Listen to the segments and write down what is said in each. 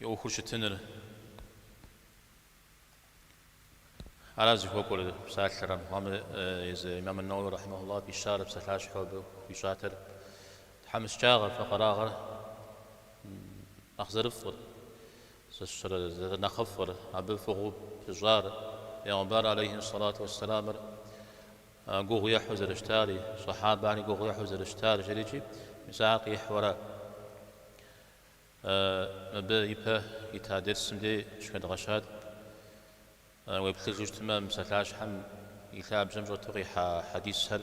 и ӏуэхур щытыныр. Аращ зыхуэкӏуэр псалъэр. Мухьэмэд езы Имам ан-Науи рахьимахуллаху фӏищар псалъащхьэу абы хуищӏатэр тхьэмыщкӏагъэр, фэкъэрагъэр нэхъ зэрыфӏыр, зэрынэхъыфӏыр, абы фӏыгъыу пыщӏар, Пейгъэмбар алейхи сэлату уэссэлямыр Гугъу ехьу зэрыщтари, сэхьабэхэри гугъу ехьу зэрыщтар, жрикӏи, мис ар къихьуэрэ. Мыбы ипэ ита дерсым дей щыхэдгъэщат, уеплъыжу щытмэ, мы псалъащхьэм и лъабжьэм щӏэту къихьа хьэдисхэр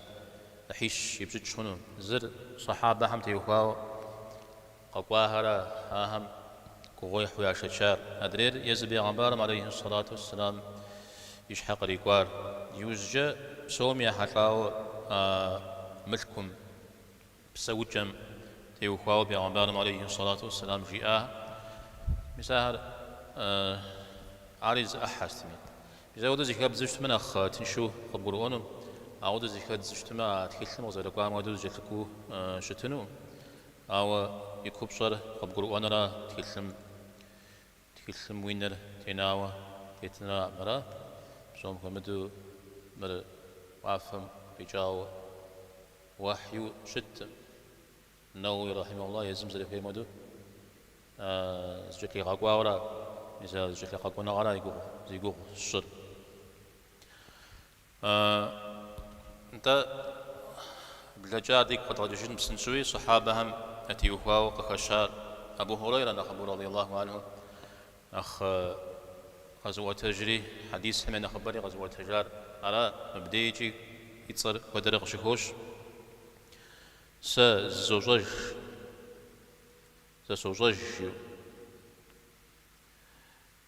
ӏыхьищ ипщӏыкӏ хъуну. Зыр, сэхьабэхэм теухуауэ, Къэкӏуахэра ахэм гугъуехьу яшэчар? Адрейр езы бегъымбарым алейхьи сэлату уэсселам и щхьэ кърикӏуар. Иужькӏэ псоми ехьэлӏауэ а мылъкум, псэукӏэм, теухуауэ бегъымбарым алейхьи сэлату уэсселам жиӏахэ, мис ахэр ари зы ӏыхьэ сытми. Мис ауэдэ зыхэбдзу щытмэ нэхъ тыншу къыбгурыӏуэну, ауэдэ зыхэддзу щытмэ а тхылъым къызэрыкӏуам хуэдэу зэкӏэлъыкӏуу щытыну. Ауэ и купщӏэр къыбгурыӏуэнра тхылъым? Тхылъым уи нэр тенауэ тетын армыра. Псом хуэмыдэу мыр уафэм къикӏауэ уэхьиуэ щыткъым. Нэуи рэхьимэхулла езым зэрыхуейм хуэдэу зыкӏэлъигъэкӏуауэра, мис а зыкӏэлъигъэкӏуэныгъэра зи гугъу сщӏыр. Нтӏэ, блэкӏар дигу къэдгъэкӏыжын псынщӏэуи сэхьабэхэм ятеухуауэ къыхэщар Абу Хьурейрэ нэхъыбэу радый Аллаху анху нэхъ къэзыӏуэтэжри, хьэдисхэм я нэхъыбэри къэзыӏуэтэжар ара, мыбдеикӏи и цӏэр куэдрэ къыщыхощ, Сэ зызощӏэж, сэ сощӏэж жиӏэу.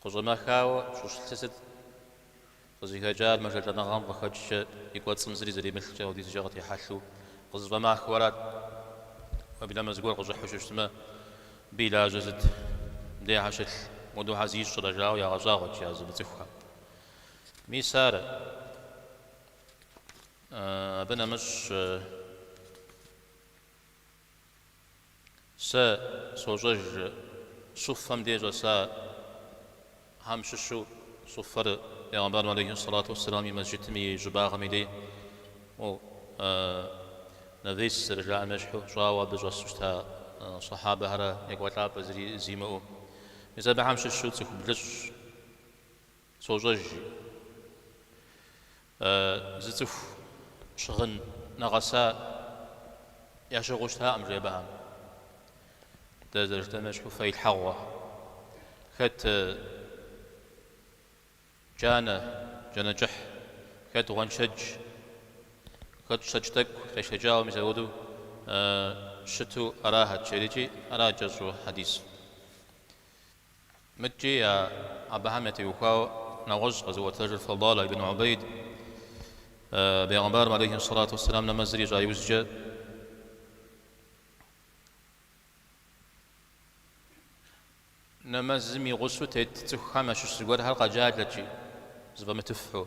Къыщӏэмэхауэ щӏыщылъыр сыт? Къызыхэкӏар мэжэлӏэныгъэм къыхэкӏкӏэ и кӏуэцӏым зыри зэримылъкӏэ апхуэдизкӏэ къытехьэлъу къызэщӏэмэхыу арат. Уеблэмэ зыгуэр къыщӏыхьу щыщытмэ, абы и лажьэ сыт, дей щхьэ щылъ, моуэдэу щхьэ зищӏрэ жаӏэу ягъэщӏагъуэт ар зымыцӏыхухэм. Мис ара. Абы нэмыщӏ. Сэ сощӏэж Суффэм де щӏэсахэм щыщу, Суффэр Пегъэмбарым алейхи ссалату уэсселам и Мэсджытым и щӏыбагъым и дей навес зэрыжаӏэм ещхьу щӏауэ абы щӏэсу щыта Сахьабэхэрэ екӏуэлӏапӏэ зыри зимыӏэу. Мис абыхэм щыщу цӏыху блыщӏ. Сощӏэж, жи. Э, зы цӏыху щыгъын нэгъэса ящыгъыу щытакъым, жи абыхэм. Дэ зэрыжытӏэм ещхьу фэилъхьэгъуэ. Хэт э, джанэ, джанэ кӏыхь, хэт гъуэншэдж, хэт щэкӏ тӏэкӏу къешэкӏауэ мис апхуэдэу э, щыту арахэт, жери икӏи ара кӏэщӏу хьэдисыр. Мыдкӏи абыхэм ятеухуауэ нэгъуэщӏ къэзыӏуэтэжыр Фадала ибн Убейд, Бегъымбарым алейхи сэлату уэсэлам нэмэзыр ищӏа иужькӏэ, нэмэзым и гъусэу тет цӏыхухэм ящыщ зыгуэрхэр къэджалэт икӏи зэфӏэмытыфу.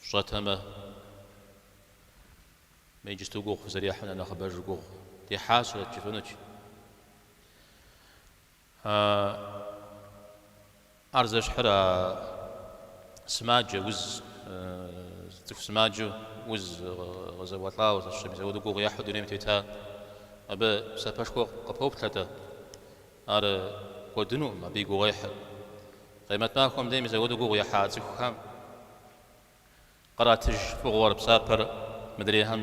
Фщӏэтэмэ, мы иджысту гугъу фызэрехьым нэхъ нэхъыбэжу гугъу дехьащэрэт жыфӏэнут. Ар зэщхьыр а сымаджэ уз, цӏыху сымаджэу уз къызэуэлӏауэ, зэщхьыр мис апхуэдэу гугъу ехьу дунейм тета, абы псапэшхуэ къыпоплъэ-тӏэ? Ар кӏуэдынукъым, абы и гугъуехьыр къемэт махуэм дей мис апхуэдэу гугъу ехьа цӏыхухэм къратыж фӏыгъуэр, псапэр мыдрейхэм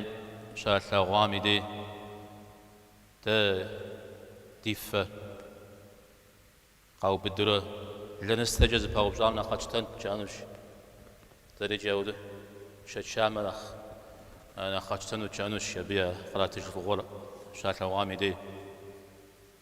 щалъагъуам и дей дэ ди фэ къаубыдурэ лэныстэкӏэ зэпаупщӏам нэхъ къэтщтэнт жаӏэнущ. Дэри иджы ауэдэ тшэчамэ нэхъ нэхъ къэтщтэнут жаӏэнущ абы я къратыж фӏыгъуэр щалъагъуам и дей.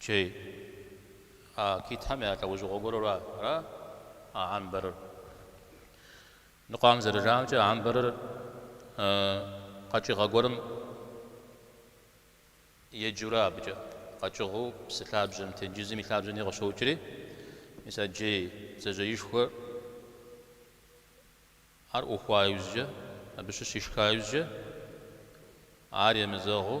Джей, а китхэм я лӏэужьыгъуэ гуэру ара а амбэрыр? Ныкъуэм зэрыжаӏэмкӏэ, амбэрыр къэкӏыгъэ гуэрым еджэурэ абыкӏэ къэкӏыгъэу псы лъабжьэм, тенджызым и лъабжьэми къыщокӏри, мис а джей бдзэжьеишхуэр ар ӏухуа иужькӏэ, абы щыщ ишха иужькӏэ, ар емызэгъыу,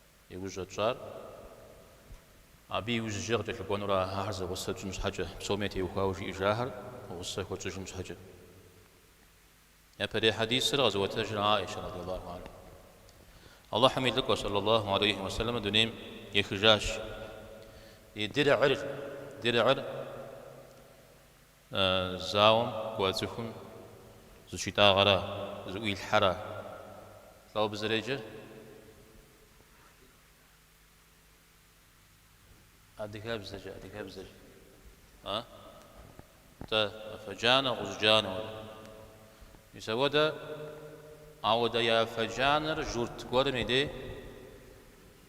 Иужь щӏэтщӏар, абы иужь иджы къыкӏэлъыкӏуэнур ахэр зэгъусэ тщӏын щхьэкӏэ, псоми ятеухуауэ жиӏэжахэр гъусэ хуэтщӏыжын щхьэкӏэ. Япэрей хьэдисыр къэзыӏуэтэжыр Аӏишэ радиаллаху анха. Алыхьым и Лӏыкӏуэ сэллаллаху алейхи уэ сэлэмыр дунейм ехыжащ. И дирӏыр, дирӏыр Зауэм кӏуэ цӏыхум зыщитӏагъэра, зыӏуилъхьэра? Лӏо абы зэреджэр? Адыгэбзэкӏэ, адыгэбзэкӏэ. А? Тэ, афэ джанэ, гъущӏ джанэ уэ. Мис ауэдэ, ауэдэ и афэ джанэр журт гуэрым и дей?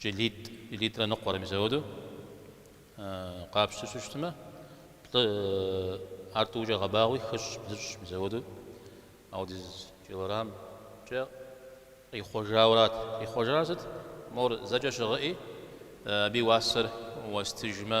Килитӏ, килитӏрэ ныкъуэрэ мис апхуэдэу къапщтэу щыщытмэ, плӏы, ар тӏукӏэ гъэбагъуи, хыщӏ, блыщӏ, мис апхуэдэу апхуэдиз килограммкӏэ къихъуэжауэрат. Къихъуэжар сыт? Мор зэкӏэ щыгъэӏи, абы и уасэр уэстыжмэ,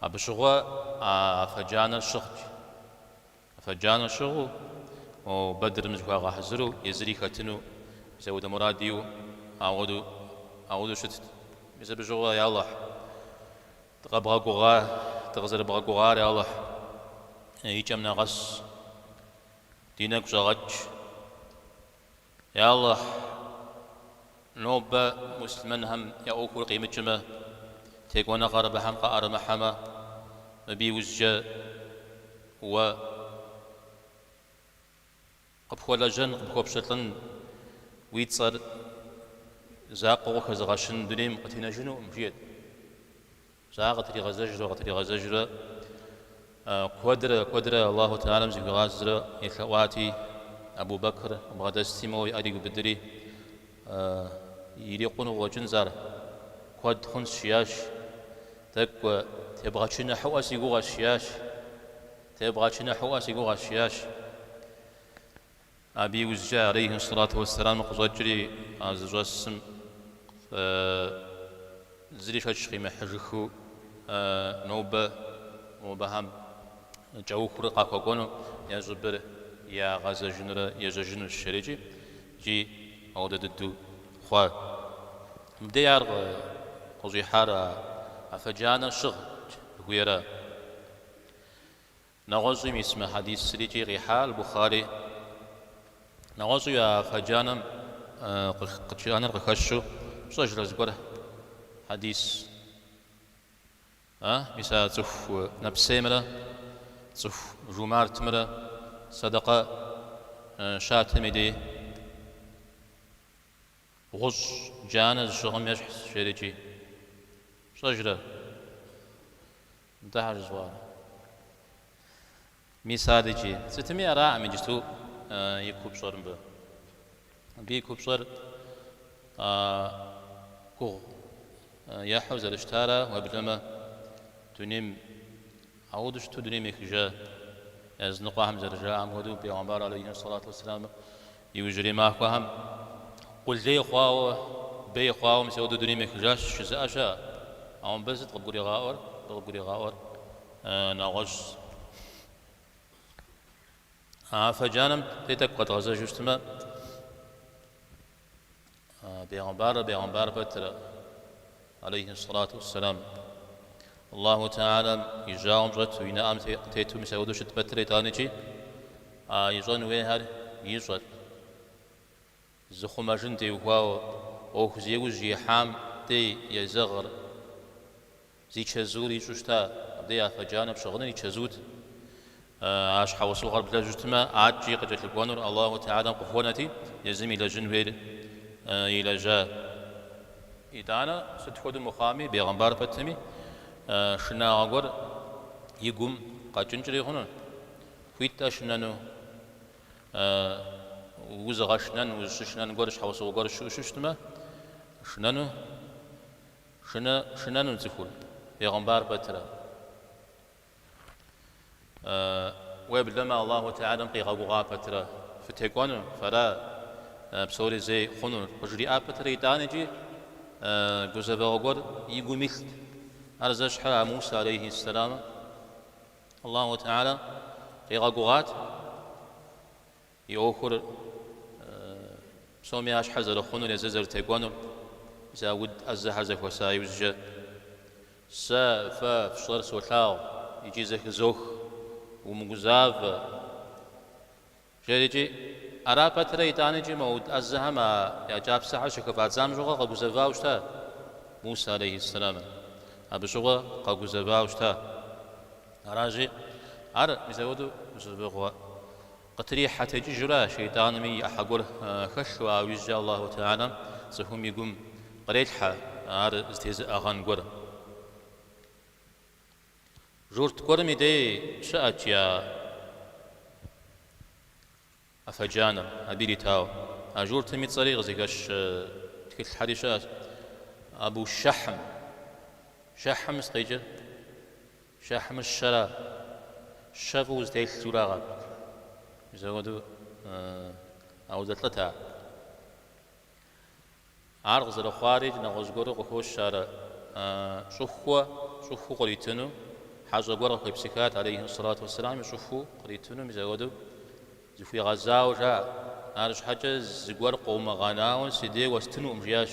Абы щыгъуэ афэ джанэр щыгът. Афэ джанэ щыгъыу, Бэдрым зыхуагъэхьэзыру, езыри хэтыну мис ауэдэ мурад иӏэу ауэду щытт. Мис абы щыгъуэ, Я Алыхь, дыкъэбгъэгугъа, дыкъызэрыбгъэгугъар, я Алыхь, и кӏэм нэгъэс, ди нэгу щӏэгъэкӏ. Я Алыхь, нобэ муслъымэнхэм я ӏуэхур къимыкӏмэ, текӏуэныгъэр абыхэм къаӏэрымыхьэмэ, мыбы иужькӏэ Уэ къыпхуэлэжьэн, къыпхуэпщылӏын, уи цӏэр закъуэу къыхэзыгъэщын дунейм къытенэжынукъым, жиӏэрт. Щӏа къытригъэзэжурэ къытригъэзэжурэ куэдрэ куэдрэ Аллаху Тэгьалэм зыхуигъазэрэ елъэӏуати, Абу Бэкр бгъэдэсти моуэ и ӏэр игубыдри, Ирикъуну къыщӏэкӏынщ ар, куэд хъунщ, жиӏащ. Тӏэкӏу тебгъэчыныхьыӏуэ си гугъэщ, жиӏащ. Тебгъэчыныхьыӏуэ си гугъэщ, жиӏащ. Абы иужькӏэ алейхи ссалату уэсселам къыщӏэкӏри а зыщӏэсым зыри шэч къимыхьыжыхыу нобэ мобыхэм кӏэухыурэ къахуэкӏуэну я щӏыбыр ягъэзэжынурэ ежьэжынущ жери икӏи, икӏи ауэдэ дыдэу хъуа. Мыбдей ар къыщӏихьар афэ джанэр щыгъ жыхуиӏэра? Нэгъуэщӏу мис мы хьэдисыр икӏи къихьа Аль-Бухари нэгъуэщӏу афэ джанэм, гъущӏ джанэр къыхэщу пщӏэжрэ зыгуэр хьэдис? А? Мис а цӏыху нэпсеймрэ цӏыху жумартмрэ сэдэкъэ щатым и дей? Гъущӏ джанэ зыщыгъым ещхьщ, жери икӏи. Пщӏэжрэ? Нтӏэ хьэр жызуӏар? Мис ар икӏи. Сытми араӏым иджысту и купщӏэр мыбы. Абы и купщӏэр гугъу ехьу зэрыщытара, уеблэмэ дунейм. Ауэду щыту дунейм ехыжа языныкъуэхэм зэрыжаӏам хуэдэу, пегъэмбар алейхи ссалату уэсселам иужьрей махуэхэм къулей хъуауэ, бей хъуауэ мисауэдэу дунейм ехыжащ, жызыӏэ щыӏэ. Ауэ мыбы сыт къыбгуригъаӏуэр? Мыбы къыбгуригъаӏуэр нэгъуэщӏщ. Афэ джанэм дей тӏэкӏу къэдгъэзэжу щытмэ, Пегъымбарыр пегъымбар пэтрэ алейхи салату вассалам Аллаху Таалям и жьауэм щӏэту, и нэӏэм тету мисауду щыт пэтрэ итӏанэкӏи, а ищӏэн хуейхэр ищӏэрт. Зыхъумэжын теухуауэ ӏуэху зи ужь ихьам дей езэгъыр. Зи чэзуур ищӏу щыта, абдей афэ джанэ пщыгъыныр и чэзуут. А щхьэусыгъуэр блэжьу щытмэ, аткӏи къыкӏэлъыкӏуэнур Аллаху Теалэм къыхуэнэти, езым илэжьын хуейр илэжьа. Итӏанэ, сыт хуэдэу мыхъуами, бегъымбар пэтми, шынагъуэ гуэр и гум къэкӏынкӏри хъуну? Хуит-тӏэ шынэну? Узыгъэшынэн, узыщышынэн гуэр, щхьэусыгъуэ гуэр щыӏэу щыщытмэ, шынэну? Шынэну цӏыхур, пегъымбар пэтрэ. Уеблэмэ Аллаху Теалэм къигъэгугъа пэтрэ, фытекӏуэну, фэра псори зей хъунур къыжриӏа пэтрэ итӏанэкӏи гузэвэгъуэ гуэр и гум илът. Ар зэщхьыр а Мусэ алейхи ссэламым Аллаху Теалэ къигъэгугъат. И ӏуэхур псоми я щхьэр зэрыхъунур езыр зэрытекӏуэнур зэ уд ӏэзэхэр зэхуэса иужькӏэ. Сэ фэ фщӏэр солъагъу икӏи зэхызох, умыгузавэ, жерикӏи, ара пэтрэ итӏанэкӏи мо уд ӏэзэхэм а я кӏапсэхэр щыхыфӏадзам щыгъуэ къэгузэвауэ щыта Муса алейхьиссэламыр, абы щыгъуэ къэгузэвауэ щыта. Аращи, ар мисэуэду зыщӏыбыгъуэ Къытрихьэ текӏыжурэ шейтӏанми и ӏыхьэ гуэр хэлъу, ауэ иужькӏэ Алаху Теала цӏыхум и гум кърелъхьэ ар зэтезыӏыгъэн гуэр. Журт гуэрым и дей щыӏэт и афэ джанэр, абы иритауэ. А журтым и цӏэри къызыхэщ тхылъхэри щыӏэщ, Абу Шэхьм. Шэхьм сыт къикӏыр? Шэхьмыр щэра, щэ фӏыуэ зытелъу арагъэнт. Мисэуэду ауэдэ лӏыта. Ар къызэрыхъуари нэгъуэщӏ гуэру къыхощ ар щӏыхуэ, щӏыхуу къритыну. Хьэщӏэ гуэр къыхуепсыхат алейхьи ссалату уэсселам и щӏыхуу къритыну, мисэуэду зыхуигъэзауэ жаӏэ. Арщхьэкӏэ зыгуэр къыумыгъэнауэ си дей уэстынукъым, жиӏащ.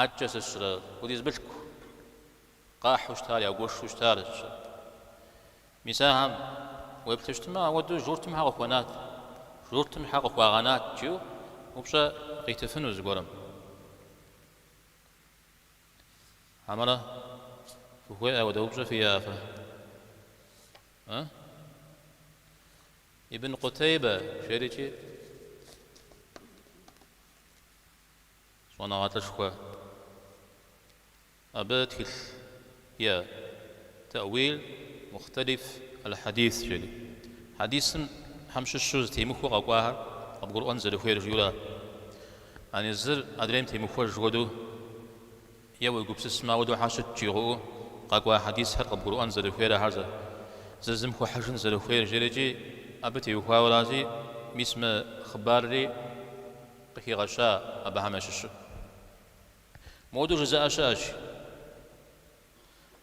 Адэкӏэ сыщрэ хуэдиз мылъку къахьу щытар, ягуэшу щытар щӏыр. Мис ахэм, уеплъу щытмэ, ауэдэу журтым хьэ къыхуэнат, журтым хьэ къыхуагъэнат, жиӏэу упщӏэ къитыфыну зыгуэрым. Хьэмэрэ фыхуей ауэдэ упщӏэ фиӏэ фэ? Э? Ибн Къутейбэ, жери икӏи. Щӏэныгъэлӏышхуэ. Абы тхылъ е тэӏуил мухтэлиф аль-хьэдис жери. Хьэдисхэм щыщу зэтемыхуэу къэкӏуахэр къыбгурыӏуэн зэрыхуейр жиӏэурэ. Ани зыр адрейм темыхуэж хуэдэу е уи гупсысмэ ауэдэу хьэ щыт жигъыӏэу къэкӏуа хьэдисхэр къыбгурыӏуэн зэрыхуейр ахэр зыр зым хуэхьыжын зэрыхуейр жери икӏи абы теухуауэ аращи, мис мы хъыбарри къыхигъэща абыхэм ящыщу моду жызыӏа щыӏащ,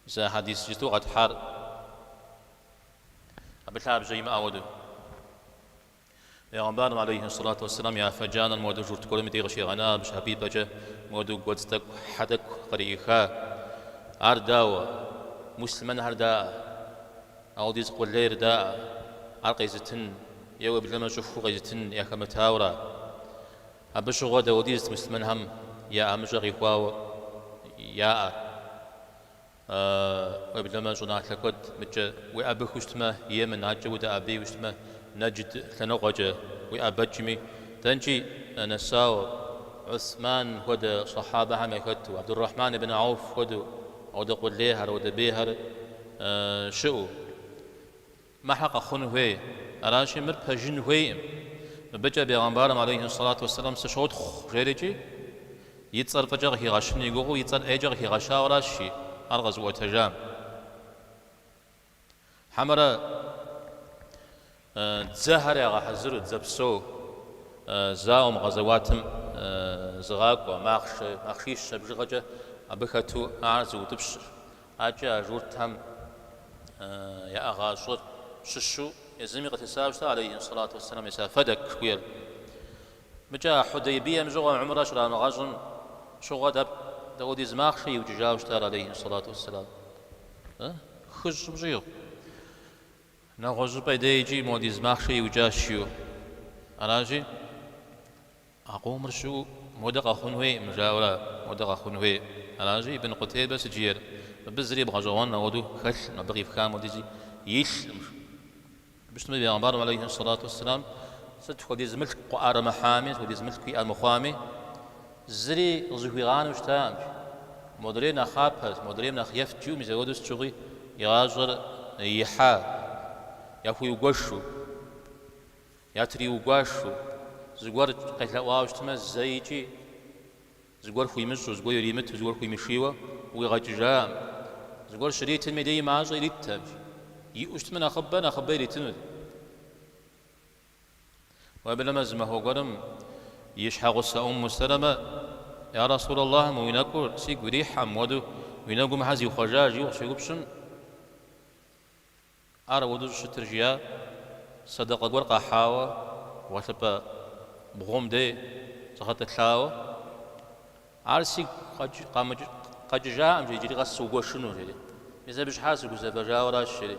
зы хьэдис жыту къэтхьар абы лъабжьэ имыӏэ хуэдэу. Бегъымбарым алейхи ссалату уассалам и афэ джанэр моду журт гуэрым и дей къыщигъэна абы щхьэпипӏэкӏэ моду гуэдз тӏэкӏу, хьэ тӏэкӏу кърииха. Ар дауэ? Муслъымэнхэр даӏэ? Ауэдиз къулейр даӏэ, ар къезытын е уеблэмэ щӏыхуу къезытын яхэмытауэра? Абы щыгъуэ дауэдизт муслъымэнхэм я ӏэмыщӏэ къихуауэ яӏэр? Уеблэмэ щӏыналъэ куэд мыдкӏэ уеӏэбыхыу щытмэ Емэн, акӏэ удэӏэбеу щытмэ, Нэджд лъэныкъуэкӏэ уеӏэбэкӏми, дэнкӏи нэсауэ, Гӏусман хуэдэ сахьабэхэм яхэту, Абдуррахьман ибн Ауф хуэдэу, ауэдэ къулейхэр, ауэдэ бейхэр? щыӏэу, мы хьэ къэхъун хуей. Аращи, мыр пэжын хуейкъым. Мыбыкӏэ бегъэмбарым, алейхи сэлату уэсэлам, сыщотхъу, жери икӏи, и цӏэр фӏыкӏэ къыхигъэщын и гугъэу, и цӏэр ӏейкӏэ къыхигъэщауэращ жи ар къэзыӏуэтэжам. Хьэмэрэ. Дзэхэр ягъэхьэзыру, дзэ псо зауэм, гъэзэуатым зыгъакӏуэ, махъшэ, махъшищэ бжыгъэкӏэ абы хэту ар зыутӏыпщыр. Акӏэ а журтхэм яӏэгъащӏэр щыщу езыми къытесауэ щыта, алейхи ссалату уэсселам мис а Фэдэк жыхуиӏэр. Мыкӏэ а Хьудейбием щыгъуэ гьумрэ щрамыгъэщӏым щыгъуэ дап- дауэдиз махъшэ иукӏыжауэ щытар, алейхи ссалату уэсселам? Хыщӏым щӏигъу. Нэгъуэщӏыпӏэ дей икӏи модиз махъшэ иукӏащ жиӏэу аращи, а къомыр щыӏэу модэ къэхъун хуейкъым, жаӏэурэ модэ къэхъун хуей аращи, Ибн Къутейбэ сыт жиӏэр абы зыри бгъэщӏэгъуэн ауэдэу хэлъкъым, абы къифхам хуэдизи илъкъым. Жыпӏэу щытмэ, Бегъымбарым алейхи ссалату уэсселам сыт хуэдиз мылъку къыӏэрымыхьами, сыт хуэдиз мылъку иӏэ мыхъуами, Зыри къызыхуигъанэу щытаӏым. Модрейр нэхъапэт, модрейм нэхъыфӏт жиӏэу мис апхуэдэу сыт щыгъуи игъащӏэр ихьа, яхуиугуэшу, ятриугуашу, зыгуэр къелъэӏуауэ щытмэ, зэ икӏи, зыгуэр хуимыщӏу, зыгуэр иримыту, зыгуэр хуимышийуэ ӏуигъэкӏыжаӏым. Зыгуэр щритым деи мащӏэ ириттэкъым. Иӏэу щытмэ, нэхъыбэ, нэхъыбэ иритынут. Уеблэмэ зы махуэ гуэрым и щхьэгъусэ Умму Сэлэмэ, Я Расулаллахь, мы уи нэкӏур сигу ирихьӏым, мыуэду уи нэгум хьэ зихъуэжа? жиӏэу къыщеупщӏым, Ар ауэду щыщытыр, жиӏэ, сэдэкъэ гуэр къахьауэ, гъуэлъыпӏэ бгъум дей згъэтӏылъауэ. Ар сигу къэкӏыжакъым, жери, иджыри къэс сыугуэшыну, жери. Мис абы щхьа сыгузэвэжауэращ, жери.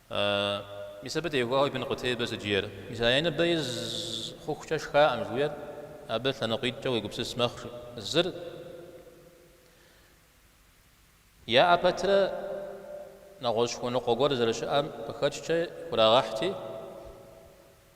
Мис абы теухуауэ Ибн Къутейбэ сыт жиӏэр, мис а я ныбэ из хъухукӏэ шхаӏым жиӏэр абы лъэныкъуитӏкӏэ уегупсыс мэхъу, зыр яӏэ пэтрэ нэгъуэщӏ хуэныкъуэ гуэр зэрыщыӏэм къыхэкӏкӏэ хурагъэхьти,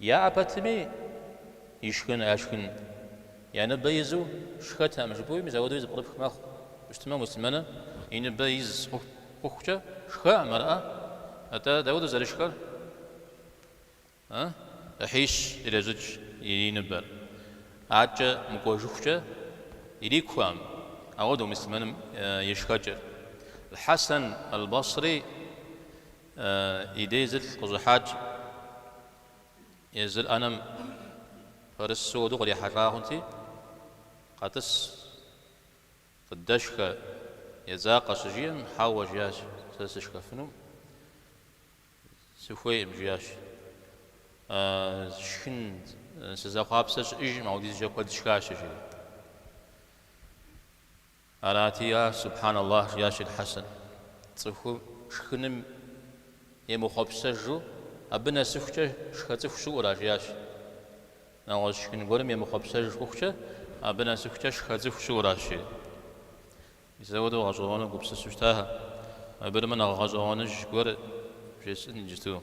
Яӏэ пэтми, ишхын, яшхын, я ныбэ изу шхэтэкъым жыпӏэуи, мис ауэдэуи зыпкърыпх мэхъу. Ауэ щытмэ, муслъымэныр и ныбэ из хъухукӏэ шхэкъым, арыӏэ? Атӏэ дауэ дызэрышхэр? А? Ӏыхьищ ирещӏыкӏ и ныбэр, адкӏэ мыкӏуэжыхукӏэ ирикуэӏым, ауэдэу муслъымэным и шхэкӏэр. Аль-Хьэсэн аль-Басри И дей зылӏ къыщӏыхьащ, езыр ӏэнэм пэрысу уэду кърихьэлӏа хъунти, къэтӏыс, къыддэшхэ, едзакъэ щыжиӏэм, хьэуэ, жиӏащ, сэ сышхэфыну сыхуейкъым, жиӏащ. Шхын сызэхъуапсэ щыӏэжӏым, ауэдизкӏэ куэд сшхащ, жиӏэу. Арати, я Субхьан Аллахь, жиӏащ Эль-Хьэсэн, цӏыхум шхыным емыхъуэпсэжу, абы нэсыхукӏэ шхэ цӏыху щыӏура, жиӏащ, нэгъуэщӏ шхын гуэрым емыхъуэпсэж хъухукӏэ, абы нэсыхукӏэ шхэ цӏыху щыӏуращ, жи. Мис ауэдэу гъэщӏэгъуэну гупсысу щытахэм, абырмэ нэхъ гъэщӏэгъуэныж гуэр жесӏэн иджыту.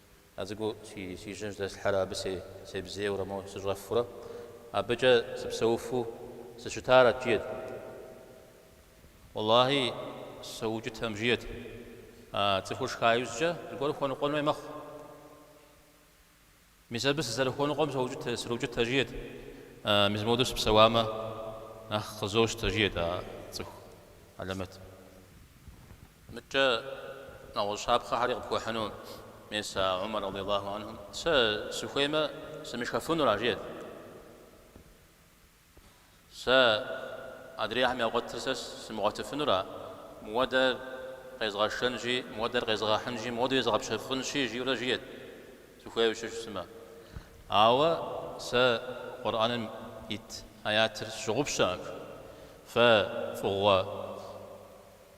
А цӏыкӏуу си жьэм жьэдэслъхьэрэ абы себзейуэрэ мо сыщӏэфурэ абыкӏэ сыпсэуфу сыщытарэт, жиӏэт. Уэллахьи, соукӏытэм, жиӏэт. А цӏыхур шха иужькӏэ зыгуэр хуэныкъуэн хуей мэхъу. Мис абы сызэрыхуэныкъуэм сроукӏытэ, жиӏэт. Мис мыуэду сыпсэуамэ, нэхъ къызощтэ, жиӏэт а цӏыху алэмэтым. Мыдэкӏэ нэгъуэщӏ щапхъэхэри къыпхуэхьыну мис а Умар радиаллаху анхум, Сэ сыхуеймэ, сымышхэфынура? жиӏэт. Сэ адрейхэм ягъуэтыр сэ сымыгъуэтыфынура? Мыуэдэр къезгъэшэнщи, мыуэдэр къезгъэхьынщи, мыуэду езгъэпщэфӏынщи, жиӏэурэ жиӏэт, сыхуейуэ щытамэ. Ауэ сэ Къурӏэным ит аятыр сщыгъупщэкъым. Фэ фӏыгъуэ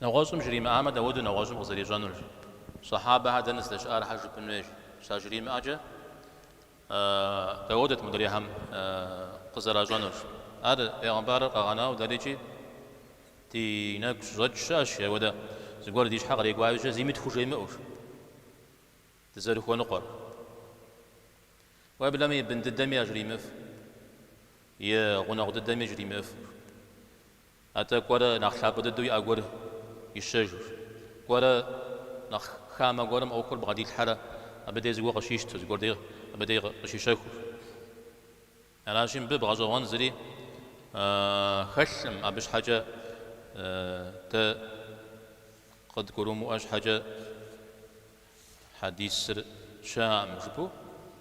Нэгъуэщӏым жримыӏамэ, дауэдэу нэгъуэщӏым къызэрищӏэнур, сэхьабэхэр дэнэ здэщыӏахэр жыпӏын хуейщ. Щажримыӏэкӏэ дауэдэт мыдрейхэм къызэращӏэнур. Ар бегъымбарыр къэгъэнауэ дэрикӏи ди нэгу щыщӏэкӏ щыӏэщ, ауэдэ зыгуэр ди щхьэ кърикӏуащи зыми тхужемыӏэу дызэрыхуэныкъуэр. Уеблэмэ и бын дыдэми яжримыӏыф, и гъунэгъу дыдэми жримыӏыф. Атӏэ кӏуэрэ нэхъ лъапӏэ дыдэу иӏэ гуэр ищэжыр. Кӏуэрэ нэхъ хамэ гуэрым ӏуэхур бгъэдилъхьэрэ абы дей зыгуэр къыщищтыр, зыгуэр дей абы дей къыщищэхур. Аращи, мыбы бгъэщӏэгъуэн зыри хэлъкъым, абы щхьэкӏэ дэ къыдгурымыӏуэ щхьэкӏэ хьэдисыр щыӏэкъым жыпӏэу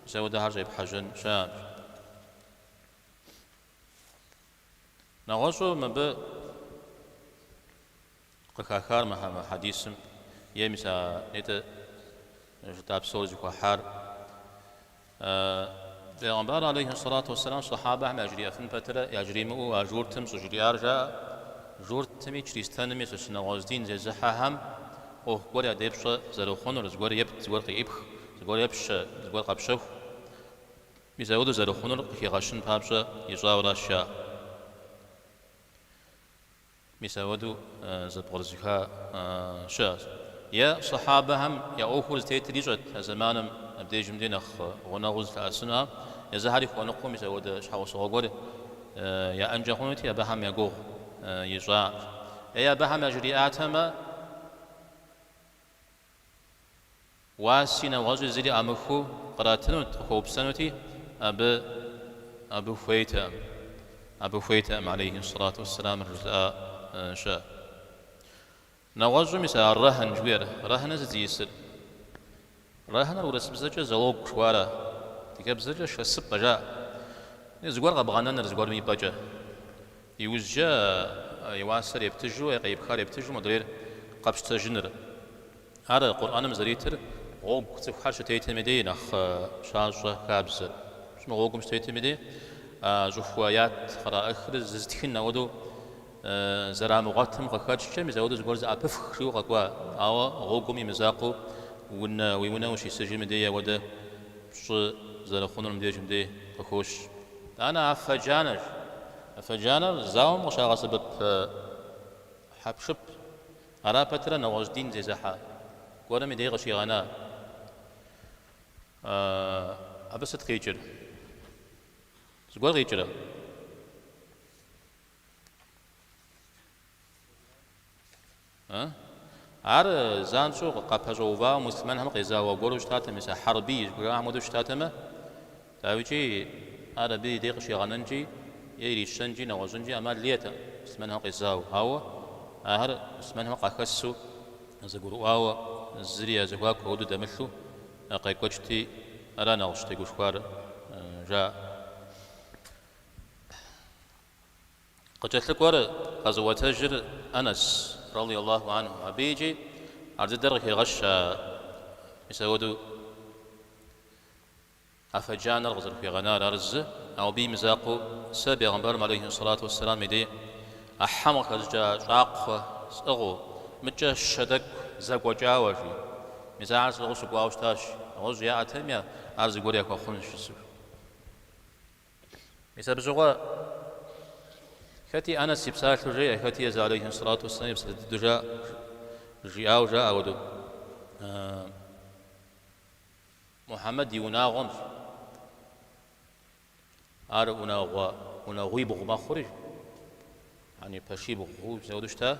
мис ауэдэхэр щӏепхьэжьэн щыӏэкъым. Нэгъуэщӏу мыбы къыхахар мы хьэдисым е мис а нетӏэ жытӏа псори зыхуэхьар, Пегъымбар алейхи сэлату уэсэлам сэхьабэхэм яжриӏэфын пэтрэ яжримыӏэу а журтым щӏыжриӏар жаӏэ, журтми чристэнми сыт нэгъуэщӏ дин зезыхьэхэм ӏуэху гуэр ядэпщӏэ зэрыхъунур, зыгуэр епт, зыгуэр къеӏыпх, зыгуэр епщэ, зыгуэр къэпщэху. Мисауэду зэрыхъунур къыхигъэщын папщӏэ ищӏауэращ жаӏэр. Мисауэду зэпкърызыха щыӏэщ. Е сэхьабэхэм я ӏуэхур зытетыр ищӏэт а зэманым абдежым дей нэхъ гъунэгъуу зылъэӏэсыну. Езыхэри хуэныкъуэу мисауэдэ щхьэусыгъуэ гуэр яӏэнкӏэ хъунути, абыхэм я гугъу ищӏакъым. Е абыхэм яжриӏатэмэ. Уаси нэгъуэщӏи зыри ӏамыхыу къратынут, къыхуэупсэнути, абы, абы хуейтэкъым, абы хуейтэкъым, алейхи сэлату уэсселамыр жызыӏа щыӏэщ. Нэгъуэщӏу мис а рэхьын жыхуиӏэр, рэхьыныр сыт зиӏысыр? Рэхьыныр урысыбзэкӏэ залог жыхуаӏэра, адыгэбзэкӏэ шэсыпӏэ жаӏэ. Зыгуэр къэбгъэнэныр, зыгуэрым и пӏэкӏэ. Иужькӏэ и уасэр ептыжу, е къеӏыпхар ептыжу модрейр къэпщтэжыныр. Ар Къурӏэным зэритыр гъуэгу цӏыхухэр щытетым и дей нэхъ щащӏэ хабзэр. Щӏымыгъу гъуэгум щытетым и дей щӏыхуэ ят къраӏыхыр зызытхын ауэдэу зэрамыгъуэтым къыхэкӏкӏэ, мис ауэдэу зыгуэр зэӏэпыфх жиӏэу къэкӏуа. Ауэ гъуэгум имызакъыу унэ, уи унэ ущисыжым и дей ауэдэ пщӏы зэрыхъунур мыбдеж мыбдей къыхощ. Тӏанэ афэ джанэщ. Афэ джанэр зауэм къыщагъэсэбэп хьэпшып. Ара пэтрэ нэгъуэщӏ дин зезыхьэ гуэрым и дей къыщигъэна. Абы сыт къикӏыр? Зыгуэр къикӏрэ? Ар занщӏэу къапэщӏэувауэ муслъымэнхэм къезауэ гуэру щытатэм, мис а хьэрбий жыхуиӏэхэм хуэдэу щытатэмэ, дауикӏи ар абы и дей къыщигъэнэнкӏи е ирищэнкӏи нэгъуэщӏынкӏи ӏэмал иӏэтэкъым, муслъымэнхэм къезауэ. Ауэ ахэр муслъымэнхэм къахэсу, зэгурыӏуауэ, зыри я зэхуаку ауэду дэмылъу къекӏуэкӏти, ара нэхъ щытегушхуар, жаӏэ. Къыкӏэлъыкӏуэр къэзыуэтэжыр Анэс, ради Аллаху анху, абы икӏи ар дыдэр къыхегъэщ а мис ауэду афэджанэр къызэрыхуигъэнар. Ар зы, ауэ абы имызакъуэу сэ Бегъымбарым алейхи сэлату уэсселам и дей а хьэм къыхэщӏыкӏа щӏакхъуэ сӏыгъыу, мыкӏэ щэ тӏэкӏу зэкӏуэкӏауэ, жи. Мис ахэр сӏыгъыу сыкӏуауэ щытащ. Нэгъуэщӏ яӏэтэми, ар зыгуэр яхуэхъунщ жысӏэу. Мис абы щыгъуэ хэти Анэс и псалъэу жеӏэ, хэти Езы алейхи сэлату уэсселам и псалъэ дыдэу жаӏэ, жиӏауэ жаӏэ ауэду. Мухьэмэд и унагъуэм. Ар унагъуэ, унагъуибгъу мэхъури, яни пэшибгъуу, мис ауэду щыта.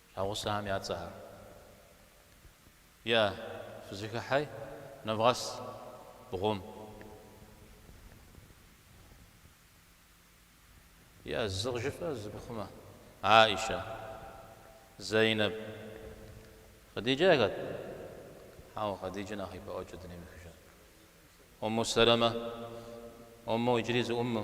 А гъусэхэм я цӏэхэр. Е, фызэхыхьи, нэвгъэс бгъум. Е, зы къыжыфӏэ, зы пыхъумэ. Аӏищэ. Зэйнэб. Хъэдиджэ хэт? Хьэуэ, Хъэдиджэ нэхъ ипэӏуэкӏэ дунейм ехыжащ. Умму Сэлэмэ. Умму, иджыри зы Умму.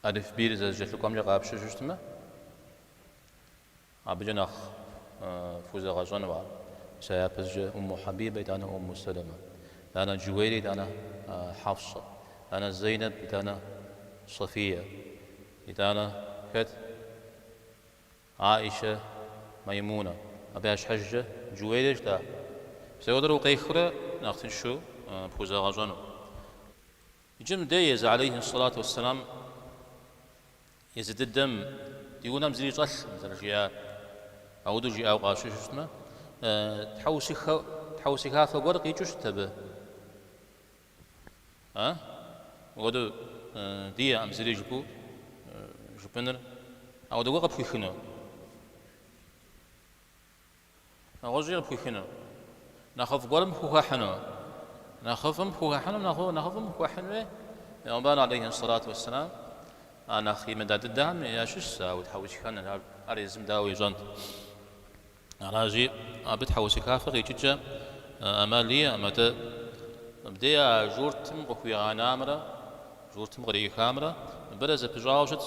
Алифбийр зэрызэкӏэлъыкӏуэмкӏэ къапщыжу щытмэ, абыкӏэ нэхъ фхузэгъэщӏэну? Мис а япэщӏыкӏэ Умму Хьэбибэ итӏанэ Умму Сэлэмэ, тӏанэ Джуейрэ итӏанэ Хьэфсэ, тӏанэ Зейнэб итӏанэ Софие, итӏанэ хэт? Аӏищэ, Маймунэ. Абы я щхьэжкӏэ Джуейрэ щыта? Мис ауэдурэ укъехыурэ нэхъ тыншу пхузэгъэщӏэну. Иджы мыдэ езы алейхи ссалату уэссэлам езы дыдэм ди унэм зыри щӏэлъкъым зэрыжиӏар. Ауэдэу жиӏауэ къащыщу щытмэ, тхьэусыхафэ гуэр къикӏыу щытт абы. Ауэдэу диӏэкъым зыри жыпӏэу жыпӏэныр. Ауэдэ гуэр къыпхуихыну? Нэгъуэщӏи къыпхуихыну. Нэхъыфӏ гуэрым пхухэхьыну. Нэхъыфӏым пхухэхьыну, нэхъыфӏ, нэхъыфӏым пхуэхьынуи Пегъымбар алейхи сэлату уэсселам а нэхъ имыда дыдэхэм ящыщщ а утхьэусыхэныр, ар, ар езым дауэ ищӏэнт. Аращи, абы тхьэусыхафэ къикӏыкӏэ ӏэмал иӏэкъым, атӏэ мыбдеж а журтым къыхуигъанамрэ журтым кърихамрэ абырэ зэпыщӏауэ щытщ.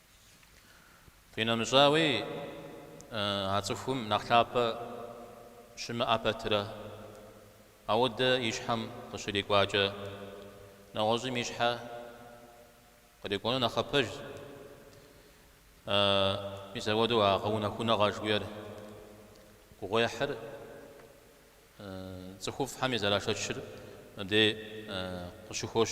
Къинэмыщӏауи, а цӏыхум нэхъ лъапӏэ щымыӏэ пэтрэ, ауэдэ и щхьэм къыщрикӏуакӏэ, нэгъуэщӏым и щхьэ кърикӏуэну нэхъапэжщ. Мис ауэдэу а гъэунэхуныгъэ жыхуиӏэр гугъуехьыр цӏыхуфӏхэми зэрашэчыр мыбдей къыщыхощ.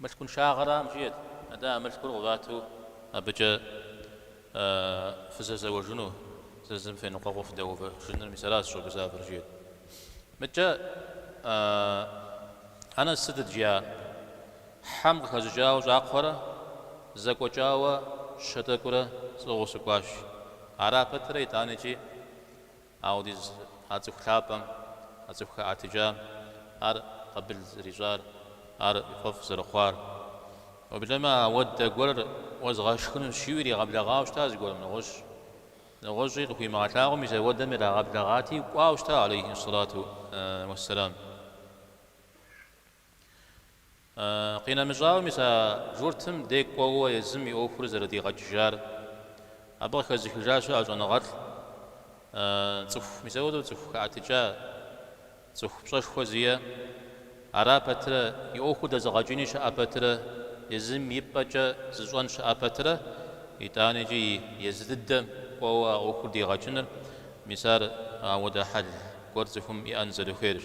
Мылъкуншагъэрам жиӏэт, атӏэ а мылъкур къывату абыкӏэ фызэзэуэжыну, зы зым феныкъуэкъуу фыдэувэжыныр, мис аращ сыщӏэгузавэр, жиӏэт. Мыдкӏэ Анэс сытыт жиӏа? Хьэм къыхэщӏыкӏауэ щӏакхъуэрэ зэкӏуэкӏауэ щэ тӏэкӏурэ сӏыгъыу сыкӏуащ. Ара пэтрэ итӏанэкӏи Ауэдиз а цӏыху лъапӏэм, а цӏыху хэӏэтыкӏам, ар къабыл зэрищӏар, ар фӏэфӏ зэрыхъуар. Уеблэмэ ауэдэ гуэрыр уэзгъэшхынущ жиӏэу иригъэблэгъауэ щыта зыгуэрым нэгъуэщӏ. Нэгъуэщӏи къыхуимыгъэлъагъуэу мис ауэдэм ирагъэблэгъати, кӏуауэ щыта алейхи сэлату уэссэлам. Къинэмыщӏауэ, мис а журтым декӏуэуэ езым и ӏуэхур зэрыдигъэкӏыжар абы къыхэзыхыжа щыӏэщ щӏэныгъэлӏ цӏыху, мис ауэдэу цӏыху хэӏэтыкӏа, цӏыху пщӏэшхуэ зиӏэ. Ара пэтрэ, и ӏуэхур дэзыгъэкӏыни щыӏэ пэтрэ, езым и пӏэкӏэ зыщӏэн щыӏэ пэтрэ, итӏанэкӏи езы дыдэм кӏуэуэ а ӏуэхур дигъэкӏыныр, мис ар ауэдэ хьэл гуэр цӏыхум иӏэн зэрыхуейрщ.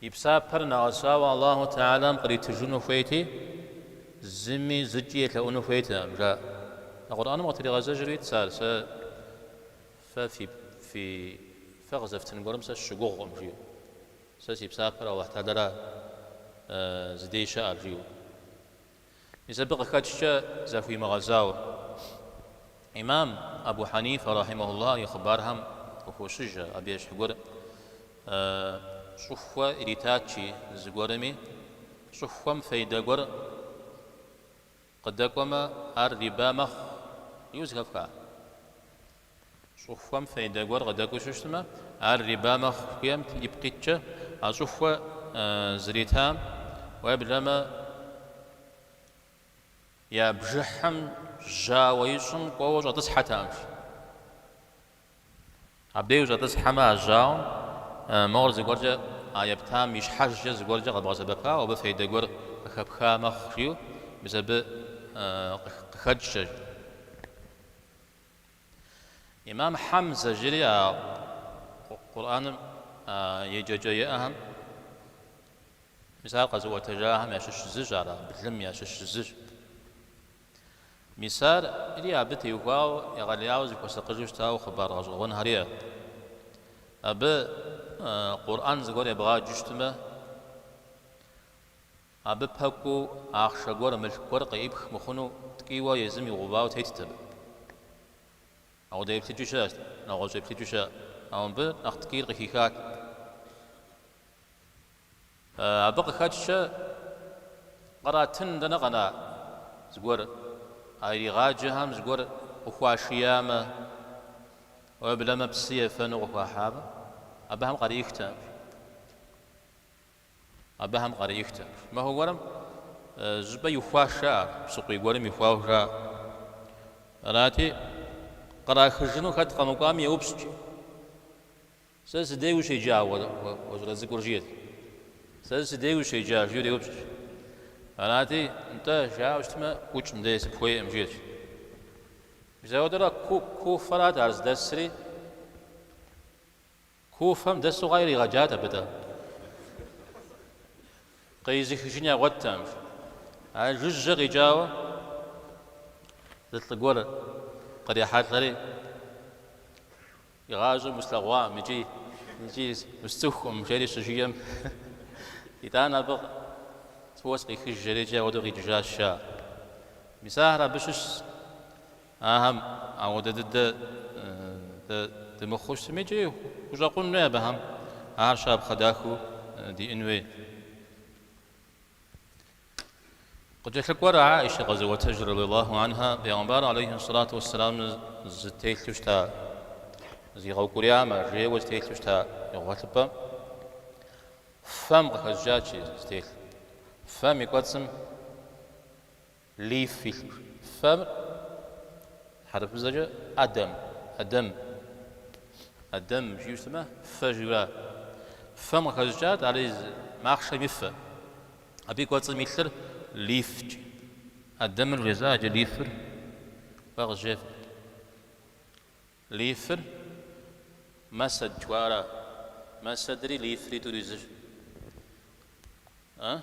И псапэр нэгъэсауэ Аллаху Тэхьэлам къритыжыну хуейти, зыми зыкӏи елъэӏуну хуейтэкъым, жаӏэ. Къурӏэным къытригъэзэжри итщ ар, сэ фэ фи, фи, фэ къызэфтын гуэрым сэ сыщыгугъкъым, жиӏэу. Сэ си псапэр Аллаху Тэхьэлара зыдей щыӏэр, жиӏэу. Мис абы къыхэкӏкӏэ захуимыгъэзауэ. Имам Абу Хьанифэ рахьимэхулла и хъыбархэм къыхощыжэ, абы ещхь гуэр щӏыхуэ иритат, жи, зыгуэрми щӏыхуэм фейдэ гуэр къыдэкӏуэмэ, ар риба мэхъу, жиӏэу зэхэфха. Щӏыхуэм фейдэ гуэр къыдэкӏуэу щытмэ, ар риба мэхъу жыхуиӏэм ипкъ иткӏэ, а щӏыхуэ зритам, уеблэмэ я бжыхьым жьауэ ищӏым кӏуэуэ щӏэтӏысхьэтэкъым, жи. Абдей ущӏэтӏысхьэмэ а жьауэм мор зыгуэркӏэ а ептам и щхьэкӏэ зыгуэркӏэ къэбгъэсэбэпауэ абы фейдэ гуэр къыхэпха мэхъу жиӏэу мис абы къыхэкӏкӏэ. Имам Хьэмзэ жери а Къурӏэным еджэкӏэ иӏэхэм, мис ар къэзыӏуэтэжахэм ящыщ зыщ, ар а блым ящыщ зыщ. Мис ари абы теухуауэ егъэлеяуэ зыхуэсакъыжу щытауэ хъыбар гъэщӏэгъуэнхэр иӏэт. Абы Къурӏэн зыгуэр ебгъэджу щытмэ, Абы пэкӏуэу ахъшэ гуэр, мылъку гуэр къеипх мыхъуну ткӏийуэ езым игъэувауэ тетт абы. Ауэдэ еплъыкӏи щыӏэщ, нэгъуэщӏ еплъыкӏи щыӏэ, ауэ мыбы нэхъ ткӏийр къыхихат. Абы къыхэкӏкӏэ къратын дэнэ къэна зыгуэр, а иригъаджэхэм зыгуэр къыхуашиямэ, уеблэмэ псы ефэну къыхуахьамэ, абыхэм къарихтэкъым. Абыхэм къарихтэ. Махуэ гуэрым щӏыпӏэ ихуащ жаӏэ ар, псыкъуий гуэрым ихуащ жаӏэ. Арати, кърахыжыну хэт къэмыкӏуами еупщӏт, жи. Сэ сыдей ущеджа уэ, уэ щӏалэ цӏыкӏур, жиӏэт. Сэ сыдей ущеджа, жиӏэурэ еупщӏт. Арати, нтӏэ, жаӏэу щытмэ, ӏукӏ мыдей, сыпхуейкъым, жиӏэт. Мис ауэдэрэ ку, Куфэрат ар здэсри. Куфэм дэсу хъуар иригъэджат абы дэ. Къизыхыжын ягъуэтакъым. А жыжьэ къикӏауэ зы лӏы гуэр кърихьэлӏэри, Игъащӏэм услъэгъуакъым икӏи, икӏи усцӏыхукъым, жери щыжиӏэм, Итӏанэ абы фӏыуэ сыкъихыж, жери икӏи ауэдэу къикӏыжащ, жаӏэ. Мис ахэр абы щыщ. Ахэм ауэдэ дыдэ дэ дымыхъуу щытми, икӏи хущӏэкъун хуей абыхэм, ахэр щапхъэ дахэу диӏын хуей. Къыкӏэлъыкӏуэр Аӏишэ къэзыӏуэтэжыр, радиаллаху анха, Пэйгъэмбар алейхи ссалату уэссэлам зытелъу щыта, зигъэукӏуриямэ, жейуэ зытелъу щыта и гъуэлъыпӏэр фэм къыхэщӏыкӏати, зытелъ фэм и кӏуэцӏым, Лиф илъу, фэм хьэрыпыбзэкӏэ ӏэдэм, Адем, Адем жиӏэу щытмэ, фэ жиӏэу ара? Фэм къыхэщӏыкӏат ари зы махъшэм и фэ. Абы и кӏуэцӏым илъыр лифт. Адемыр вжесӏа, иджы лифыр фэ къызжефӏэ. Лифыр Мэсэд жыхуаӏэра? Мэсэдри лифри тӏури зыщ. А?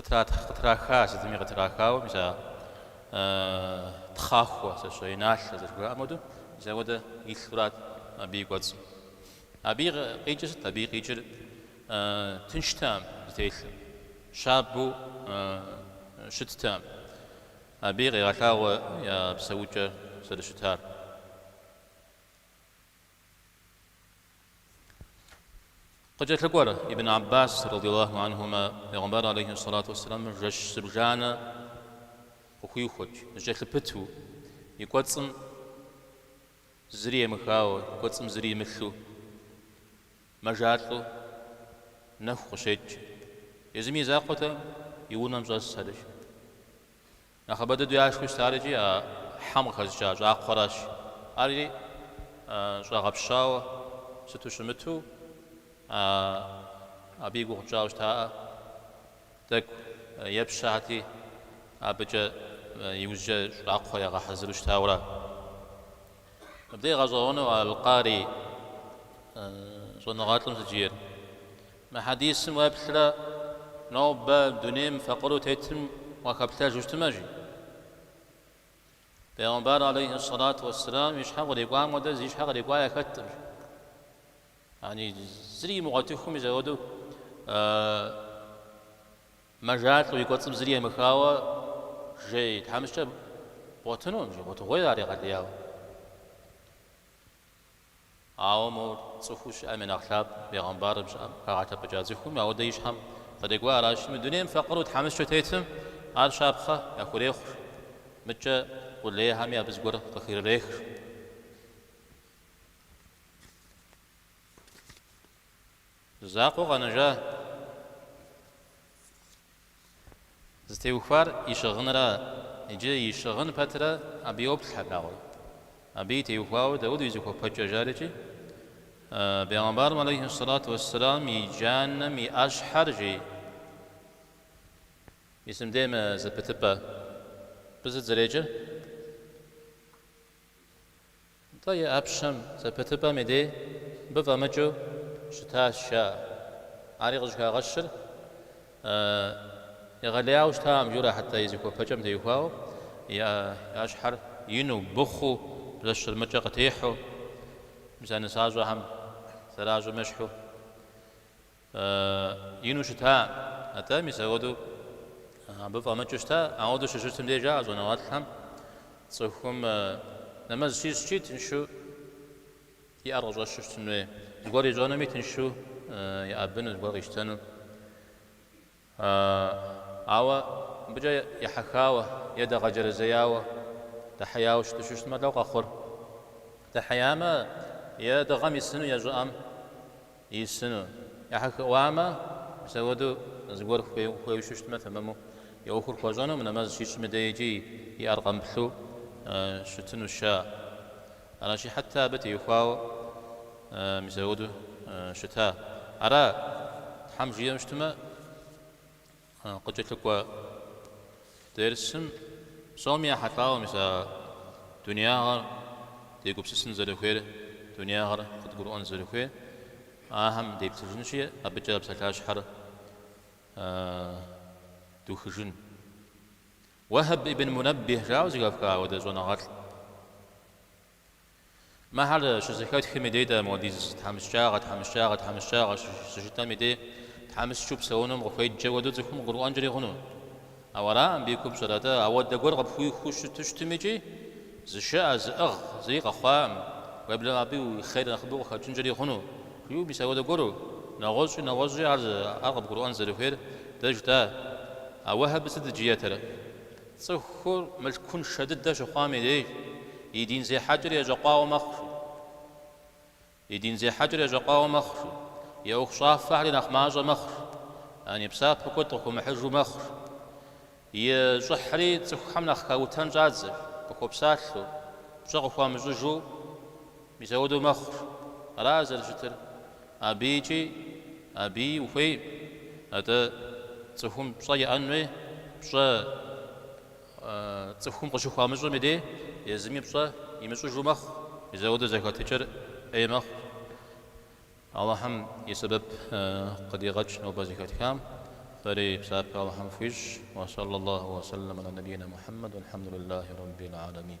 Къытрахар, сытми къытрахауэ, мис а тхъахуэ, сэ щэ, иналъэ зэрыжраӏэм хуэдэу, мис апхуэдэ илъурат абы и кӏуэцӏым. Абы и къикӏыр сыт? Абы и къикӏыр тынштэкъым зытелъым, щабэу щыттэкъым. Абыи къегъэлъагъуэ я псэукӏэр зэрыщытар. Къыкӏэлъыкӏуэр Ибн Аббас, радияллаху анхумэ, Пегъымбар алейхи сэлату уэсселамыр жэщ зыбжанэ къыхуихуэт, зэкӏэлъыпыту, и кӏуэцӏым зыри емыхауэ, и кӏуэцӏым зыри имылъу, мэжалӏэу нэху къыщекӏ. Езыми и закъуэтэкъым и унэм щӏэс абы. Нэхъыбэ дыдэу яшхыу щытар икӏи а хьэм къыхэщӏыкӏа щӏакхъуэращ. Ари щӏэгъэпщауэ сыту щымыту, абы и гугъу тщӏауэ щытаӏэ, тӏэкӏу епщэхэти, абыкӏэ иужькӏэ щӏакхъуэ ягъэхьэзыру щытауэра. Мыбдеж гъэщӏэгъуэну Алкъарий щӏэныгъэлӏым сыт жиӏэр. Мы хьэдисым уеплърэ нобэ дунейм факъыру тетым уахэплъэжу щытымэ, жи. Пегъымбар алейхьи сэлату уэсселам и щхьэ кърикӏуам хуэдэ зи щхьэ кърикӏуа яхэткъым, жи. Яни зыри имыгъуэтыхыу мис апхуэдэу мэжалӏэу и кӏуэцӏым зыри емыхауэ жей тхьэмыщкӏэ бгъуэтынукъым, жи, гъуэтыгъуейщ ар егъэлеяуэ. Ауэ мор цӏыхуу щыӏэм и нэхъ лъапӏэ, бегъымбару щыӏэм хагъэлъэпӏыкӏа цӏыхум апхуэдэ и щхьэм кърикӏуа аращи, мы дунейм факъыру тхьэмыщкӏэ тетым ар щапхъэ яхурехъур, мыдэкӏэ къулейхэми абы зыгуэр къыхырырехыр. Закъуэу къэнэжа зытеухуар и щыгъынра, иджы и щыгъын пэтрэ абы йоплъ хьэпагъуэр. Абыи теухуауэ дауэду и зыхуэпэкӏэ жарэкӏи, бегъымбарым алейхи ссалату уэсселам и джанэм и ӏэщхьэр жи, мисым дей мы зэпытыпӏэ пызыдзрекӏыр? Нтӏэ, и ӏэпщэм, зэпытыпӏэм и дей мыбы фӏэмыкӏыу щытащ, жаӏэ. Ари къыщӏыхагъэщыр егъэлеяуэ щытакъым жиӏэу ара, хьэтэ и зыхуэпэкӏэм теухуауэ, и ӏэщхьэр ину, быхъуу, блэщырмыкӏэ къытехьу, мис а нысащӏэхэм зэращӏым ещхьу ину щыта, атӏэ мис ауэдэу абы фӏэмыкӏыу щыта, ауэдэу щыщытым деж жаӏэ щӏэныгъэлӏхэм цӏыхум нэмэз щищӏкӏи тыншу и ӏэр къыщӏэщу щытыну, зыгуэр ищӏэнуми тыншу еӏэбыну, зыгуэр къищтэну. Ауэ мыбыкӏэ ехьэхауэ е дэгъэджэрэзеяуэ, дыхьеяуэ щыту щыщтмэ, лӏо къэхъур. Дыхьеямэ е дыгъэм исыну е щӏыӏэм исыну. Ехьэхыӏуамэ, мисауэду зыгуэр хуейуэ щыщтмэ, тэмэму и ӏуэхур хуэщӏэну, мы нэмэз щищӏм и дейкӏи и ӏэр къэмыплъу щытыну щыӏэ. Аращи, хьэтэ абы теухуауэ мис ауэдэу щыта? Ара, Тхьэм жиӏэм щытмэ, къыкӏэлъыкӏуэ дерсым псоми ехьэлӏауэ мис а дунягъэр дегупсысын зэрыхуейр, дунягъэр къыдгурыӏуэн зэрыхуейр ахэм деплъыжынщи, абыкӏэ псалъащхьэр духыжын. Уэхьэб ибн Мунэббихь жаӏэу зэхэфха ауэдэ щӏэныгъэлӏ мыхьэр щызэхэтхым и дей дэ муэдиз тхьэмыщкӏагъэ, тхьэмыщкӏагъэ, тхьэмыщкӏагъэ щыжытӏэм и дей тхьэмыщкӏэу псэунум къыхуеджэ хуэдэу цӏыхум къыгурыӏуэнкӏэри хъуну? Ауэ ара мыбы и купщӏыр? Атӏэ, ауэдэ гуэр къыпхуихуэу щытыщтым икӏи Зышыӏэ, зыӏыгъ зыри къэхъуакъым, уеблэмэ абы уи хъер нэхъыбэу къыхэкӏынкӏэри хъуну, жиӏэу мис ауэдэ гуэру, нэгъуэщӏи нэгъуэщӏи ар къыбгурыӏуэн зэрыхуейр дэ жытӏа? А Уэхьэб сыт жиӏэтэрэ? Цӏыхур мылъкуншэ дыдэ щыхъуам и деж, и дин зехьэкӏэр ещӏэкъуауэ мэхъу, жи. И дин зехьэкӏэр ещӏэкъуауэ мэхъур, и ӏуэхущӏафэхьэри нэхъ мащӏэ мэхъур, яни псапэ куэд къыхуэмыхьыжу мэхъур. И щӏыхьри цӏыхухэм нэхъ хаутэн щӏадзэ, къыхуэпсалъэу, пщӏэ къыхуамыщӏыжу мисауэдэу мэхъур. Ара зэрыщытыр? Абыикӏи абыи ухуейм. Атӏэ, цӏыхум пщӏэ иӏэнуи, пщӏэ Цӏыхум къыщыхуамыщӏым и деж езыми пщӏэ имыщӏыжу мэхъу, итӏанэ зэхэтыкӏэр ӏей мэхъу. Алыхьым и сэбэп къыдигъэкӏ нобэ зэхэтхам, фэри псапэ Алыхьым фхуищӏ. Уэ сэллэ Алыхьу уэ сэллэм аля набийнэ Мухьэммэд, уэлхьэмдуллахи Раббил алямин.